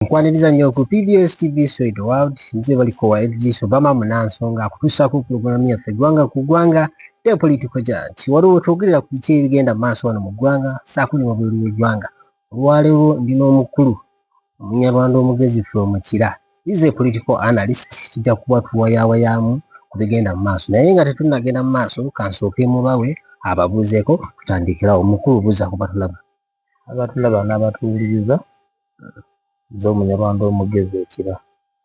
nkwaniriza nnyo ku pbs tv soid world nze balikowa ebijiiso bama munansonga akutuusaako pulogulaamu yaffe ggwanga ku ggwanga te politiko janti waliwo wetwogerera ku biki ebigenda mu maaso wano mu ggwanga saako ne wabweru w'eggwanga olwaleero ndi n'omukulu omunyarwanda omugezi ffe omukira is a political analyst kijja kuba tuwayawayaamu ku bigenda mu maaso naye nga tetunnagenda mu maaso kansooke mubawe ababuuzeeko tutandikirawo mukulu buuza kubatulaba abatulaba n'abatuwuliriza nze omunyarwanda omugezi ekira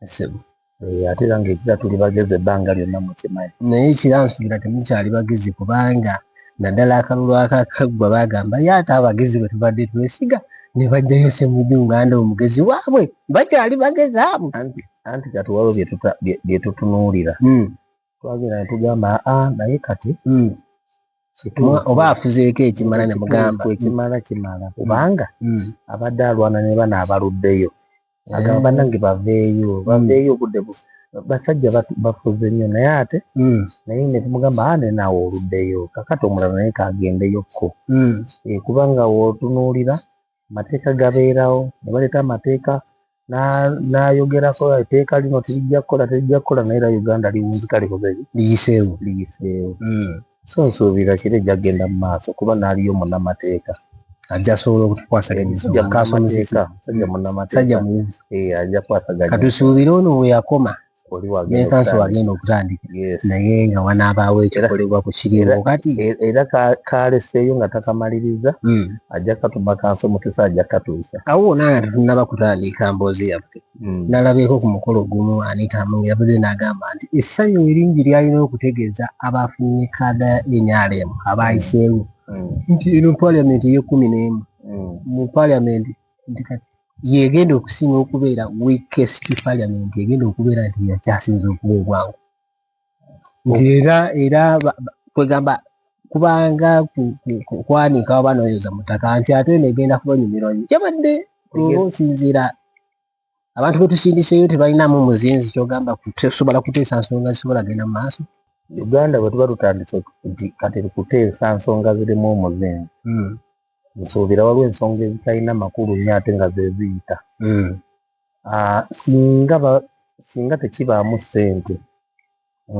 esebo eh, ate era ngaekira tuli bagezi ebbanga lyonna mukimanyi naye ekira nsuubira temukyali bagezi kubanga naddala akalulu akakaggwa bagamba ye ate abagezi bwe tubadde twesiga ne bajjayo semuju nganda omugezi waabwe bakyali bagezi abo anti kati waliwo byetutunuulira hmm. twagenda ne tugamba aa naye kati mm. oba afuzeeko ekimala ne mugamba ekimala kimala mm. kubanga mm. abadde alwana ne bana abaluddeyo agamba nange baveeyo baveeyo obudde bu basajja bafuze nnyo naye ate naye ne tumugamba aa nenaawe oluddeyo kakati omulala naye kagendeyokko eh, kubanga wotunuulira mateeka gabeerawo ne baleeta amateeka n'ayogerako etteeka lino terijja kukola terijja kukola naye era uganda liwunzika likoze liyiseewo liyiseewo hmm. so nsuubira kiro ejja kugenda mu maaso kuba naaliyo munamateeka ajja asobola okutukwasaganyasajja munamateeka eh, ajja kwasaganya katusuubire ono bwe yakoma nekansi wagenda okutandika naye nga wanaabaawo ekikolebwa ku kiriwo kati era kaleseeyo nga takamaliriza hmm. ajja katuma kansi omutesa ajja katuusa awo wona nga tetunaba kutandika mboozi yaffe hmm. nalabeeko ku mukolo gumu anitamu yabuze n'agamba nti essanyu eringi lyalina okutegeeza abaafunye kaada ya nrm abaayiseewo hmm. nti eno paliamenti eyekumi n'emu mu paliamenti nti kati yegenda okusinga okubeera weakest parliament egenda okubeera nti yakyasinza okuba obwangu nti era era kwegamba kubanga kwanika oba noyoza mutaka nti ate eno egenda kubanyumirwa nyo kyabadde oba osinziira abantu betusindiseyo tebalinamu muzinzi kyogamba kusobola kuteesa nsonga zisobola genda mu maaso uganda bwetuba tutandise nti kati kuteesa nsonga zirimu omuzinzi hmm. nsuubira waliwo ensonga ezitalina makulu nnyo ate nga zeziyita hmm. ah, singa singa tekibaamu ssente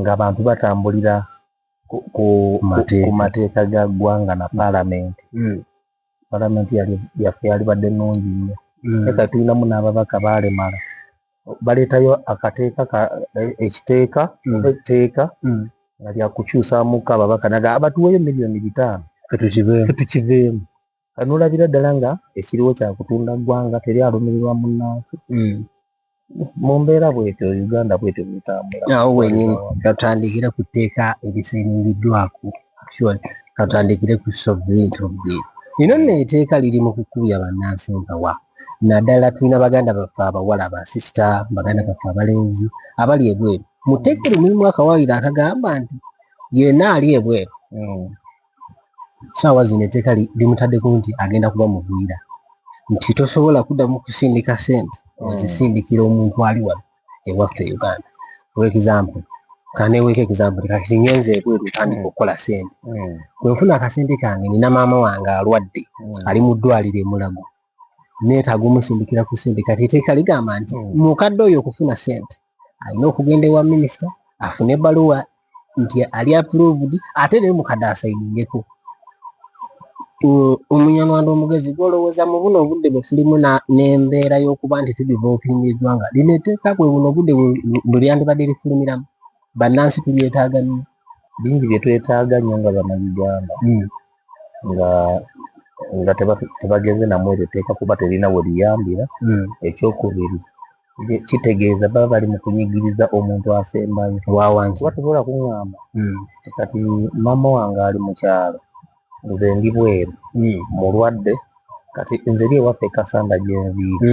ng'abantu batambulira ku mateeka ga ggwanga na paalamenti hmm. paalamenti yaffe yalibadde nnungi nnyo hmm. eka tulinamu n'ababaka baalemala baleetayo akateeka eh, ekiteeka mm. etteeka mm. nga lyakukyusamuko ababaka naga abatuweeyo miliyoni bitaano fetukiveemu kanolabira ddala nga ekiriwo kyakutunda ggwanga teri alumirirwa munnansi mm. mu mbeera bwetyo uganda bwetyo butambulaawo wenyini katandikire ku tteeka erisingiddwaku katandikire ku sovereignty of the ino neeteeka liri mu kukubya bannansi nkawa naddala tulina baganda baffe abawala basisita baganda baffe abalenzi abali ebweru muteekere mulimu akawayiro akagamba nti yena ali ebweru hmm. saawa zino eteeka limutaddeko nti agenda kuba mugwira nti tosobola kuddamu kusindika sente ozisindikira omuntu ali wano ewaffe e uganda for example kaneweeko example kati ngenze ebweru tandika okukola sente bwenfuna akasente kange nina maama wange alwadde ali mu ddwaliro emulago neetaaga omusindikira ku sente kati eteeka ligamba nti mukadde oyo okufuna sente alina okugenda ewa minisita afune ebaluwa nti ali approved ate naye mukadde asayiningeko omunyarwanda omugezi gwolowooza mu buno obudde bwetulimu n'embeera y'okuba nti tudivolopinga eggwanga lino eteeka bwe buno obudde bweryandibadde lifulumiramu bannansi tulyetaaga nnyo bingi byetwetaaga nnyo nga bana uganda hmm. nga nga tebagenze namu eryo tteeka kuba terina we liyambira. Hmm. Ekyokubiri kitegeeza baba bali mu kunyigiriza omuntu asembayo wawansi kuba tosobola kuŋŋamba hmm. kati maama wange ali mu kyalo nze ndi bweru hmm. mulwadde kati nze eri ewaffe kasanda gyenviiri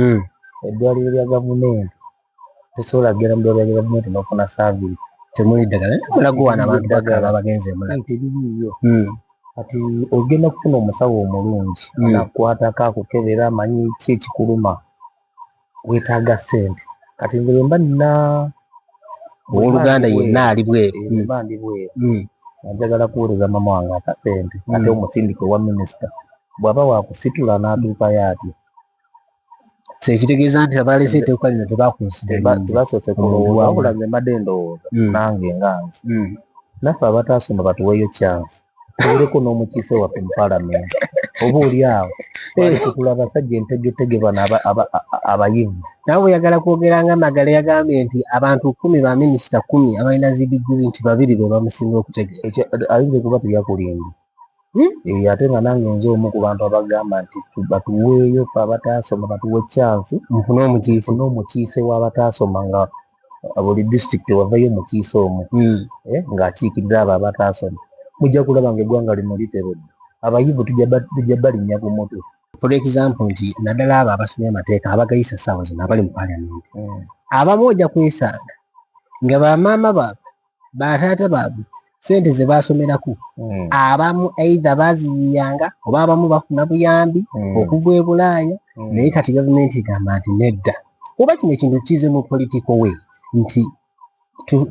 eddwaliro lya gavumenti tosobola kugenda mu ddwaliro lya gavumenti n'ofuna saavisi temuli ddagala naye tubula guwaana abantu bagala bagenze emulaga tebiriiyo hmm. kati ogenda kufuna omusawo omulungi hmm. nakukwatako akukebera amanyi ki ekikuluma weetaaga ssente kati nze bwe mba nina owoluganda yenna ali bweru eh, mba ndi bweru hmm. njagala kuweereza mama wange akasente ate omusindika owa minisita bw'aba wakusitula n'atuukayo atya so ekitegeeza nti abaalese etteeka lino tebakunsidebasoose kulowooza wabula nze mbadde ndowooza hmm. nange nga nze hmm. naffe abataasa no batuweeyo chance tuwereko n'omukiise waffe mu palamenti oba oli awo tukula abasajja entegetege bano abayivu nawe oyagala kwogera nga magala yagambye nti abantu kumi ba minisita kumi abalina zidiguli nti babiri be bamusinga okutegeera ayinza kuba teyakulimba ate nga nange nze omu ku bantu abagamba nti batuweeyo fe abataasoma batuwe chansi nfune omukiise n'omukiise w'abataasoma nga buli disitulikiti wavayo omukiise omu hmm. eh, ng'akiikidde abo abataasoma mujja kulaba nga eggwanga lino literedde abayivu tujja balinnya ku mutwe for example nti naddala abo abasomye amateeka abagayisa saawa zino abali mu paliamenti hmm. abamu ojja kwesanga nga bamaama baabwe bataata baabwe sente ze baasomerako hmm. abamu aidha baaziyiyanga oba abamu bafuna buyambi hmm. okuva e bulaaya hmm. naye kati gavumenti egamba nti nedda oba kino ekintu kize mu political way nti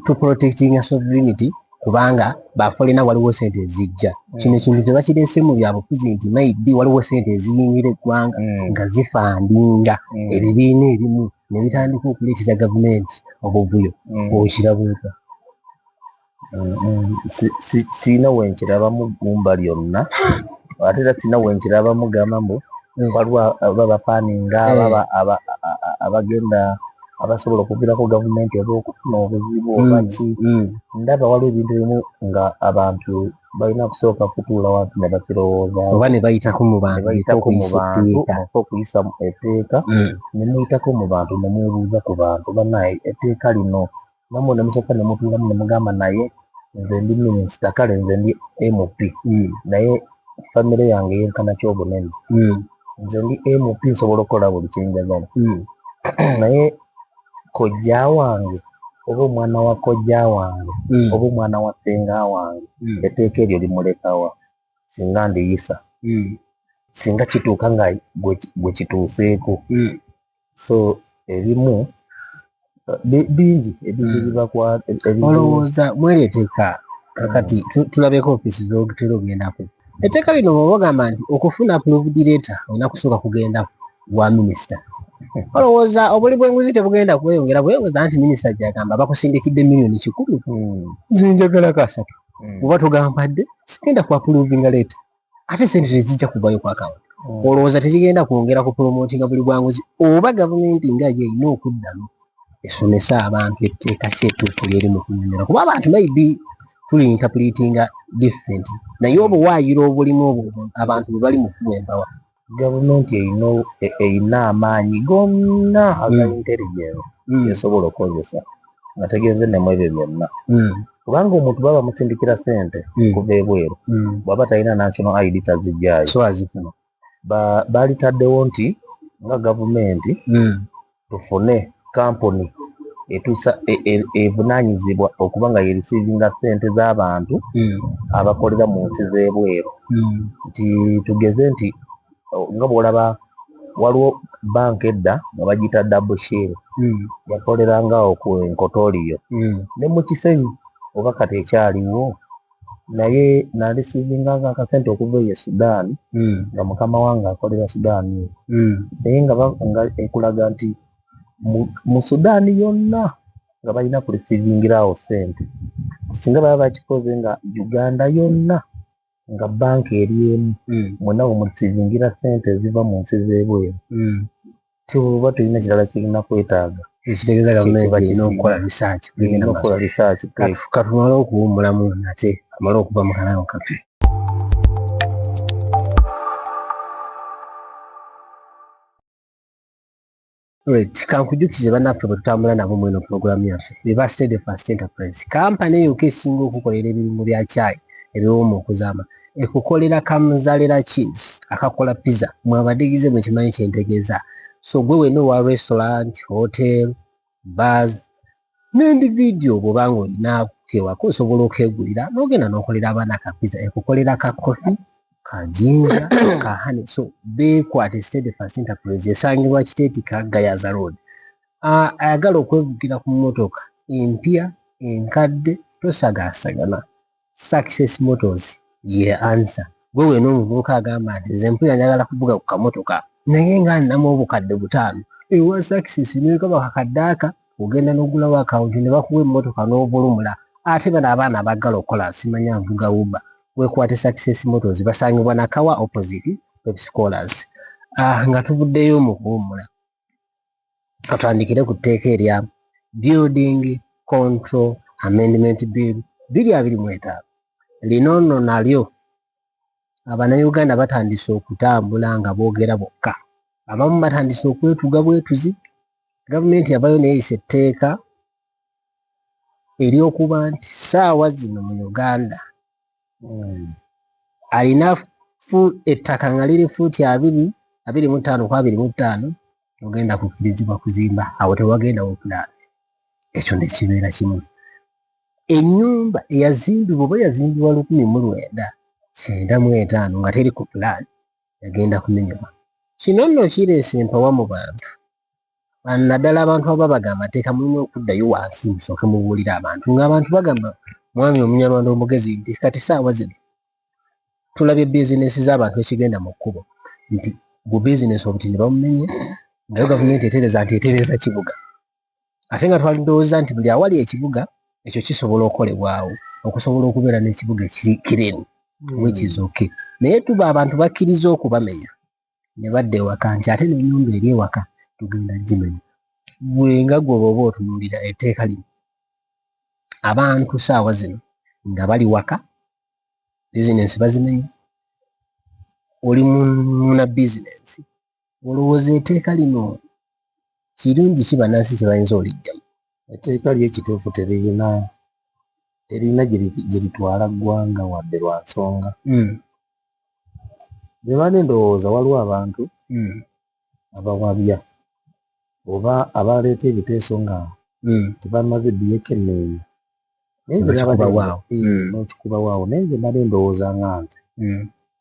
to protecting a sovereignty kubanga bafolena waliwo sente ezijja kino ekintu tebakireese mu byabufuzi nti maybe waliwo sente eziyingira eggwanga nga zifandinga ebibiina ebimu ne bitandika okuleetera gavumenti obuvuyo mm. okiraba otya sirina wenkirabamu gumba lyonna ate era sirina wenkirabamu gamba mbu waliwo babafaninga baba eh. abagenda abasobola okuvirako gavumenti oba okufuna obuzibu obaki mm, mm. ndaba waliwo ebintu ebimu nga abantu balina kusooka kutuula wansi nga bakirowooza oba ne bayitako mu bantu bayitako mu bantu omufa okuyisa etteeka hmm. ne muyitako mu bantu ne mwebuuza ku bantu banaye etteeka lino namwe ne musooka ne mutuulamu ne mugamba naye nze ndi minisita kale nze ndi mp hmm. naye famire yange yenkana kyobunene hmm. nze ndi mp nsobola okukola buli kyenjagala naye kojja wange oba omwana wa kojja wange mm. oba omwana wa senga wange mm. eteeka eryo limulekawa singa ndiyisa mm. singa kituuka nga gwe kituuseeko mm. so ebimu bingi ebingibibakwolowooza mm. mweri eteeka kakati mm. tulabeko ofisi zogitera ogendako eteeka lino bwobagamba nti okufuna provedireeta olina kusooka kugendako wa minisita olowooza obuli bwenguzi tebugenda kweyongera bweyongeza nti minisita gyagamba bakusindikidde miliyoni kikulu hmm. zinjagala kasatu hmm. oba togambadde sigenda kwapuluvinga leeta ate sente tezijja kuvayo kwakawunti hmm. olowooza tezigenda kwongera ku promotinga buli bwanguzi oba gavumenti nga yo erina okuddamu esomese abantu etteeka ki ettuufu lyeri mu kunyumira kuba abantu maybe tuli interpretinga different naye obuwaayiro obulimu obwo abantu bwe bali mu kuba embawa gavumenti erina e- erina amaanyi gonna aga Mm. intelligence Mm. esobola okukozesa nga tegenze ne mu ebyo byonna Mm. kubanga omuntu baba bamusindikira sente Mm. kuva ebweru Mm. bwaba talina national id tazijjayo so azifuna ba- baalitaddewo nti nga gavumenti Mm. tufune kampuni etusa e, e, evunanyizibwa e, e okuba nga yerisiivinga sente z'abantu mm. abakolera mu nsi z'ebweru mm. nti tugeze nti nga bwolaba waliwo banka edda nga bagiyita dabushiru mm. yakolerangawo ku enkotooliyo mm. ne mu kisenyi oba kati ekyaliwo naye nalisivinga nga akasente okuva eyo sudan hmm. nga mukama wange akolera sudan hmm. naye nga ekulaga nti mu sudan yonna nga balina kulisivingirawo sente singa baba bakikoze nga uganda yonna nga banka eri emu hmm. mwena wemulisivingira sente eziva mu nsi zebweru tuba tulina kirala kirina kwetaaga ekitegeeza gavumenti erina okukola risaaki erina okukola risaaki katumale okuwummulamu nate amale okuva mu kalawo kafe kankujukize banaffe bwetutambula nabo mweno pulogulaamu yaffe bebastede fast enterprise kampani eyokka esinga okukolera ebirimu bya kyayi ebiwoma okuzaama ekukolera kamuzalira cheese akakola pizza mwabadigize mukimanyi kyentegeza so gwe wena owa restaurant hotel bars nendi video bwobanga olina kewako osobola okegulira nogenda nokolera abaana ka pizza ekukolera ka kofi ka jinja ka hane so bekwate state first enterprise esangibwa kiteeti ka gayaza road ah, ayagala okwevugira ku motoka empya enkadde tosagaasagana success motors ye answer gwe wena omuvubuka agamba nti nze mpulira njagala kuvuga ku kamotoka naye nga nnamu obukadde butaano ewa success nekaba kakaddaaka ogenda nogulawo akawunti ne bakuwa emmotoka n'ovulumula ate bano abaana abaggala okukola simanya nvuga uba wekwate success motors basangibwa nakawa opposite pepscolars ah, nga tuvuddeyo mu kuwummula katandikire ku tteeka erya building control amendment bill biri abiri mu etaano lino nno nalyo abanauganda batandise okutambula nga boogera bokka abamu batandise okwetuga bwetuzi gavumenti yavayo neyisa etteeka eryokuba nti saawa zino mu uganda hmm. alina ettaka nga liri fuuti abiri abiri mu ttaano ku abiri mu ttaano ogenda kukkirizibwa kuzimba awo tewagenda wokula ekyo nekibeera kimu enyumba eyazimbibwa oba yazimbibwa lukumi mu lwenda kyenda mu etaano nga teri ku pulaani egenda kumenyebwa kino nno kireese empawa mu bantu naddala abantu aba baga amateeka mulina okuddayo wansi musooke mubuulire abantu ng'abantu bagamba mwami omunyarwanda omugezi nti kati saawa zino tulabye bizinesi z'abantu ekigenda mu kkubo nti gu bizinesi obutini bamumenye nayo gavumenti etereza nti etereza kibuga ate nga twali ndowooza nti buli awali ekibuga ekyo kisobola okolebwawo okusobola okubeera n'ekibuga kireni hmm. wekizoke naye tuba abantu bakkiriza okubamenya ne badda ewaka nti ate n'ennyumba eri ewaka tugenda gimenya gwe nga gwe bw'oba otunuulira etteeka lino abantu saawa zino nga bali waka bizinensi bazimenya oli muna bizinensi olowooza eteeka lino kirungi ki banansi kyebayinza olijjamu etteeka lyo ekituufu teririna teririna gye litwala ggwanga wadde lwa nsonga hmm. bwe bana endowooza waliwo abantu hmm. abawabya oba abaleeta ebiteeso nga hmm. tebamaze byekenneenya naye nze nabadewaawo nokikubawaawo naye nze mbadde ndowooza nga nze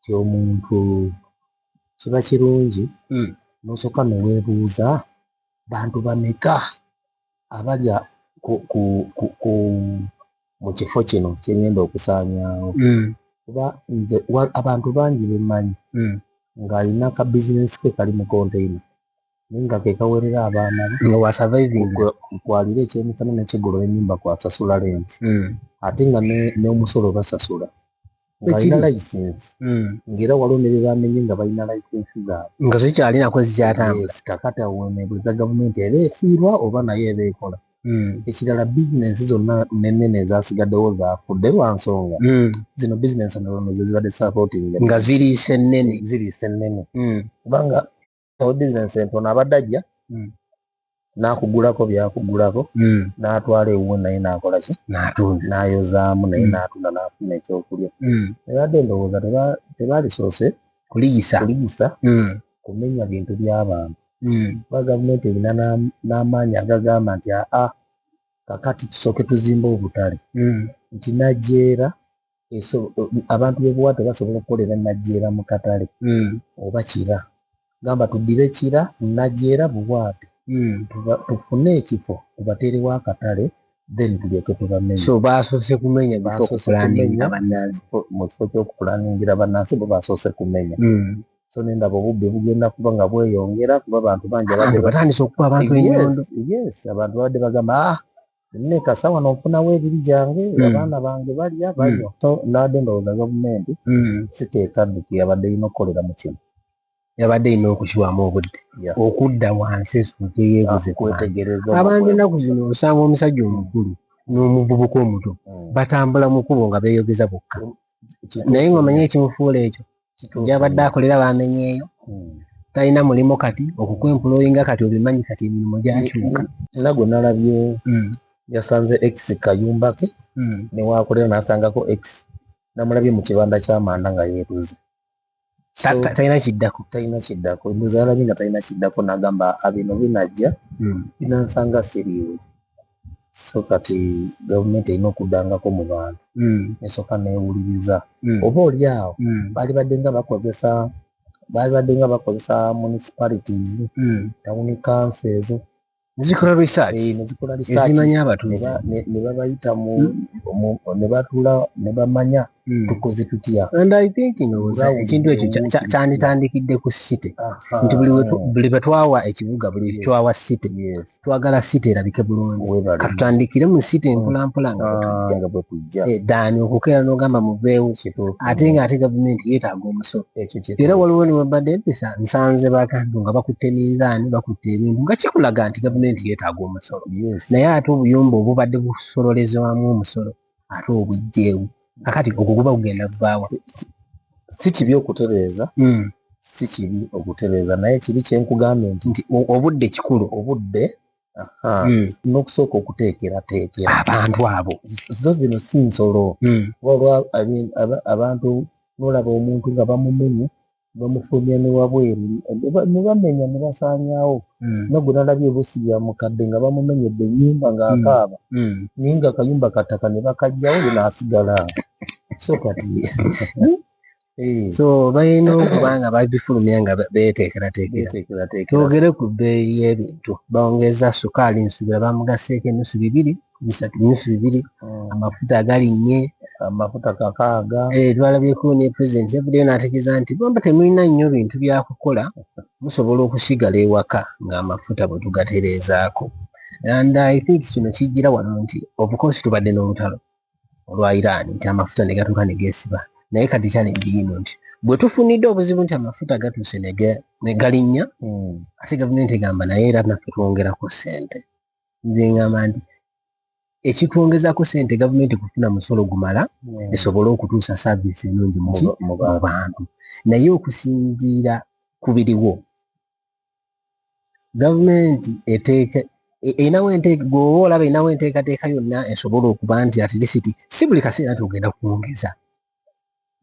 ti omuntu kiba kirungi nosooka neweebuuza bantu bameka abalya mu kifo kino kyengenda okusaanyawo hmm. kuba nze abantu bangi bemanyi hmm. ng'alina ka bizinesi ke kali mu konteina naye nga kekawerera abaana nga wasurvivinkwalira ekyemisana nekigula enyumba kwasasula lenti hmm. ate nga n'omusolo basasula ng'alina layisinsi hmm. ng'era waliwo ne bye bamenye nga balina layisinsi zaabwe nga zikyalinako zikyatambula kakata wenebuliza gavumenti eba efiirwa oba nayo eba ekola hmm. ekirala bizinensi zonna nenene ezasigaddewo zafudde lwa nsonga hmm. zino bizinensi nalonozezibadde sapootinga nga ziriisa ennene ziriisa ennene kubanga owe bizinensi entono abadde ajja hmm. nakugulako byakugulako hmm. natwala ewuwe naye nakolaki natunda nayozaamu naye hmm. natunda nafuna ekyokulya ebadde ndowooza tebalisoose kuliyisa kuliyisa kumenya bintu byabantu kuba gavumenti erina n'amaanyi agagamba nti aa kakati tusooke tuzimba obutale nti najeera abantu bebuwato basobola okukolera najera mu katale hmm. oba kira gamba tuddire kira najera buwato hmm. tufune ekifo tubateerewo akatale then tulyoke tubamenyeso basoose kumenya mu kifo kyokupulaningira banansi bo basoose kumenya hmm. so nendaba obubbi bugenda kuba nga bweyongera kuba abantu bangi batandise okuba abantu enyondo yes abantu babadde bagamba ah nneka sawa nofunawo ebiri gyange mm. abaana bange balya mm. balya so nade ndowooza gavumenti mm. siteeka dduki yabadde erina okukolera mu kino yabadde erina okukiwamu obudde okudda wansi esuuke yebuze ah, abantu enaku zino osanga omusajja omukulu n'omuvubuka omuto batambula mu kubo nga beyogeza bokka naye ng'omanyi ekimufuula ekyo gyabadde akolera bamenyeeyo hmm. talina mulimu kati okukwempulooyinga kati obimanyi kati emirimu gyakyuka era gwe nalabye hmm. yasanze ex kayumba ke hmm. newakolera nasangako ex namulabye mu kibanda kyamanda nga yeetuze talina kiddako talina kiddako muzalabi nga talina kiddako nagamba abino ah, binajja hmm. binansanga siriiwe so kati gavumenti erina okuddangako mu bantu hmm. esooka newuliriza hmm. oba oli awo balibadde nga bakozesa balibadde nga bakozesa municipalities tawuni kanso ezo nezikola research eh, nezikola research ezimanya abatuuze ne babayita mu hmm. ne batula ne bamanya hmm. tukoze tutya and i think no ekintu ekyo kyanditandikidde ku city nti buli buli betwawa ekibuga buli twawa city twagala city erabike bulungi katutandikire mu city hmm. mpola mpola nga ah, bwetujja eh, dani okukeera n'ogamba muveewo ate nga ate gavumenti yeetaaga omusolo era waliwo newebadde empisa nsanze bakantu nga bakutte minzaani bakutte ebintu nga kikulaga nti gavumenti yeetaaga omusolo naye ate obuyumba obubadde busololezebwamu omusolo ate obujjeewo kakati ogwo guba kugenda kuvaawa si kibi okutereeza hmm. si kibi okutereeza naye kiri kyenkugambye nti nti obudde kikulu obudde Hmm. n'okusooka okuteekerateekera abantu abo zo zino si nsolo hmm. waliwo abantu nolaba omuntu nga bamumenya bamufulumya ne wabweru ne bamenya ne basaanyawo hmm. nagwe nalabye ebusi ya mukadde nga bamumenyedde ennyumba ng'akaaba naye nga akayumba kattaka ne bakajjawo ye n'asigala so kati Eh. so balina okuba nga babifulumya nga beteekerateekera twogere ku bbeeyi y'ebintu bawongeza sukaali nsubira bamugaseeko enusu bibiri bisatu nusu bibiri hmm. amafuta agalinnye amafuta kakaaga eh, twalabyeko ne president yavuddeyo n'ategeeza nti bwemba temulina nnyo bintu byakukola musobola okusigala ewaka ng'amafuta bwe tugatereezaako and i think kino kijjira wano nti obukosi tubadde n'olutalo olwa Iran nti amafuta ne gatuuka ne geesiba naye kati challenge yino nti bwe tufunidde obuzibu nti amafuta gatuuse ne galinnya hmm. ate gavumenti egamba naye era naffe twongerako ssente nze ngamba nti ekitwongezako ssente gavumenti kufuna musolo gumala hmm. esobole okutuusa saaviisi enungi mu bantu naye okusinziira ku biriwo gavumenti eteeka erinawo gwoba olaba erinawo enteekateeka yonna esobola okuba nti atilisiti si buli kaseera nti ogenda kwongeza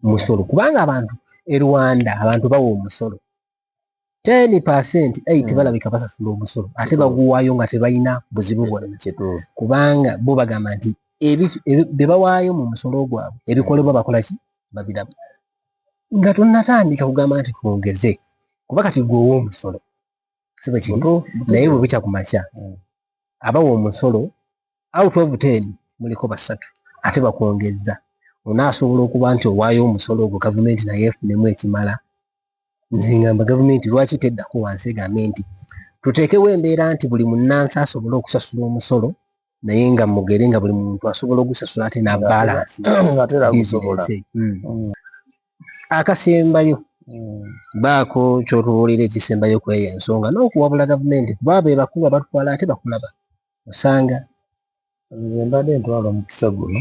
musolo kubanga abantu e rwanda abantu bawa omusolo ten percent eight hmm. balabika basasula omusolo ate baguwaayo nga tebalina buzibu bwonna kubanga bo bagamba nti bye bawaayo mu musolo gwabwe ebikolebwa bakolaki babiraba nga tonatandika kugamba nti twongeze kuba kati gwe owomusolo sibe kintu naye bwebukya ku makya mm. abawa omusolo out of ten muliko basatu ate bakwongezza onaasobola okuba nti owaayo omusolo ogwo gavumenti naye efunemu ekimala nzingamba gavumenti lwaki teddako wansi egambe nti tuteekewo embeera nti buli munnansi asobole okusasula omusolo naye nga mugere nga buli muntu asobola ogusasula ate nabalansi hmm. hmm. akasembayo hmm. baako kyotubuulira ekisembayo kweyo ensonga n'okuwabula gavumenti kuba be bakulu abatwala ate bakulaba osanga nze mbadde ntwala omukisa guno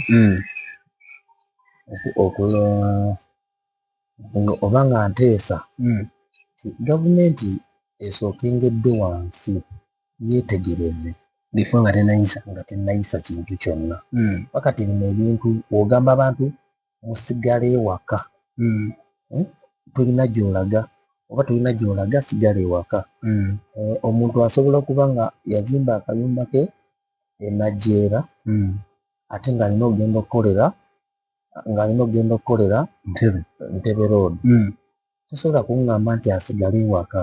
oba nga nteesa gavumenti esookengedde wansi yeetegereze before nga tenayisa nga tenayisa kintu kyonna mm. wakati bino ebintu ogamba abantu musigala ewaka mm. eh? tulina gyolaga oba tulina gyolaga sigala ewaka mm. eh, omuntu asobola okuba nga yazimba akayumba ke enajeera mm. ate ng'alina okugenda okukolera ng'alina okugenda okukolera ntebe road mm. tosobola kungamba nti asigale ewaka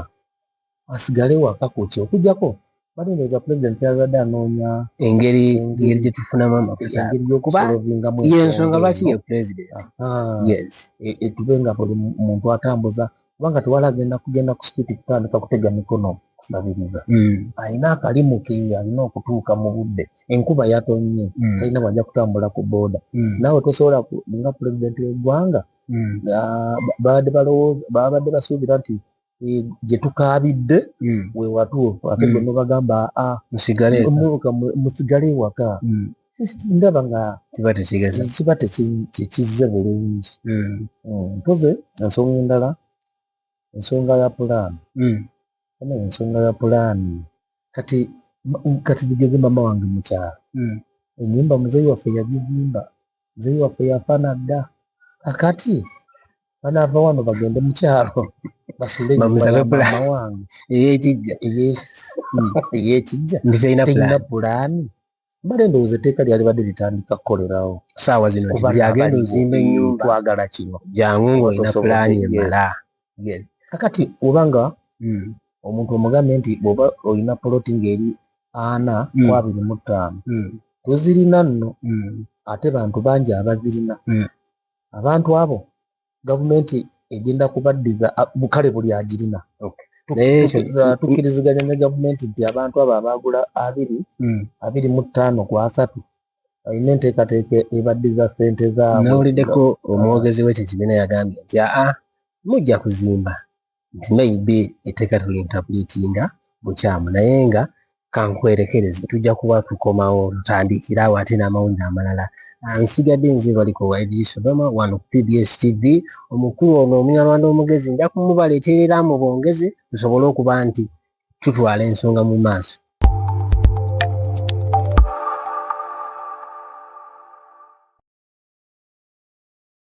asigale ewaka kuki okujjako bali ndoza president yazadde anoonya engeri engeri gyetufunamu amakubyensonga lwaki ye president yes e, e, tube nga buli muntu atambuza kubanga tewala agenda kugenda ku street kutandika kutega mikono kusabiriza hmm. alina akalimu ke alina okutuuka mu budde enkuba yatonye hmm. alina bwajja kutambula ku boda hmm. nawe tosobola nga president wegwanga mm. babadde balowooza babadde basuubira nti eh, gye tukaabidde mm. we watuufu ate mm. gonna bagamba a ah, musigale ewaka ndaba nga kiba tekigeza kiba tekizze bulungi mpoze ensonga endala ensonga ya pulaani ana ensonga ya pulaani kati kati tugeze mama wange mukyalo enyumba muzeeyi waffe yagizimba muzeeyi waffe yafa na dda kakati banaava wano bagende mukyalo basuule enyumbayamaama wange eyekijja eyekijja ntitalina pulaani mbale ndowooza etteeka lyalibadde litandika kukolerawo saawa zino kubaagenda ozimba enyumba twagala kino jangu ngaolina pulaani emala yes kakati obanga mm. omuntu omugambye nti bwoba olina poloti ngeri ana mm. ku abiri mu ttaano mm. tozirina nno mm. ate bantu bangi abazirina mm. abantu abo gavumenti egenda kubaddiza bukale buli agirina okay. tukiriziganya ne gavumenti nti abantu abo abaagula abiri mm. abiri mu ttaano ku asatu alina enteekateeka ebaddiza ssente zaabwe. Nawuliddeko omwogezi w'ekyo kibiina yagambye nti aa mujja kuzimba nti maybe etteeka tulintapulitinga bukyamu naye nga kankwerekereze tujja kuba tukomawo tutandikire awo ate n'amawulire amalala ah, nsigadde nze baliko wa idris obama wano ku pbs tv omukulu ono omunyarwanda omugezi nja kumubaleeterera mu bongezi tusobole okuba nti tutwala ensonga mu maaso